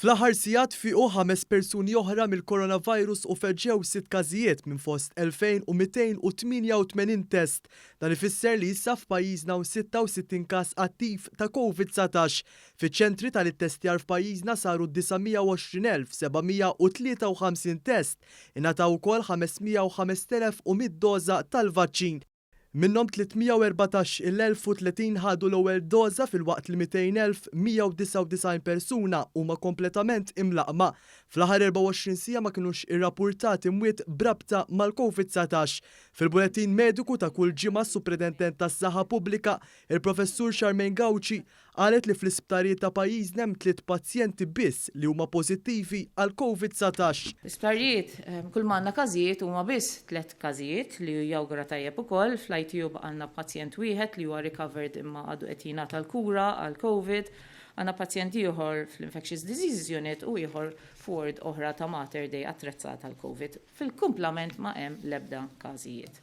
Fl-aħħar sigħat fiequ ħames persuni oħra mill-Coronavirus u feġġew sitt każijiet minn fost 2,288 test. Dan ifisser li issa f'pajjiżna hawn 66 każ attiv ta' Covid 19. Fiċ-ċentri tal-ittestjar f'pajjiżna saru 920,753 test. Ingħataw ukoll 505,100 doża tal-vaċċin. Minnhom 314 il 1030 ħadu l-ewwel doża filwaqt li 200,199 persuna huma kompletament imlaqqma. Fl-aħħar 24 siegħa ma kinux irrapurtati mwiet b'rabta mal-Covid 19. Fil-bulettin mediku ta' kull ġimgħa s-Supredentent tas-Saħħa Pubblika, il-Professur Charmaine Gauci, Qalet li fl-isptarijiet ta' pajjiżna hemm tliet pazjenti biss li huma pożittivi għal Covid 19. L-isptarijiet, kull ma għandna każijiet huma biss tliet każijiet, li jawgura tajjeb ukoll. Fl-ITU baqgħalna pazjent wieħed li huwa recovered imma għadu qed jingħata l-kura għal Covid. Għandna pazjent ieħor fl-Infectious Diseases Unit u ieħor f'ward oħra ta' Mater Dei attrezzata għall-Covid. Fil-kumplament ma hemm l-ebda każijiet.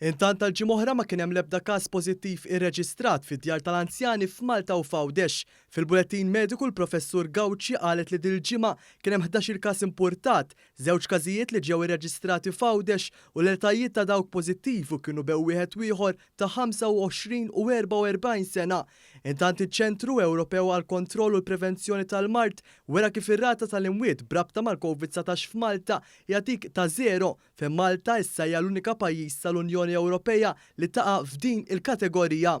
Intant għal ġimgħa oħra ma kien hemm l-ebda każ pożittiv irreġistrat fid-djar tal-anzjani f'Malta u f'Għawdex. Fil-bulettin mediku l-Professur Gauci qalet li dil-ġimgħa kien hemm ħdax-il każ impurtat, żewġ każijiet li ġew irreġistrati f'Għawdex u l-etajiet ta' dawk pożittivi kienu bew wieħed u ieħor ta' 25 u 44 sena. Intant iċ-Ċentru Ewropew għall-Kontroll u l-Prevenzjoni tal-Mard wera kif ir-rata tal-imwiet b'rabta mal-Covid 19 f'Malta hija dik ta' żero. fejn Malta issa hija l-unika pajjiż tal-Unjoni Ewropea li taqa' f'din il-kategorija.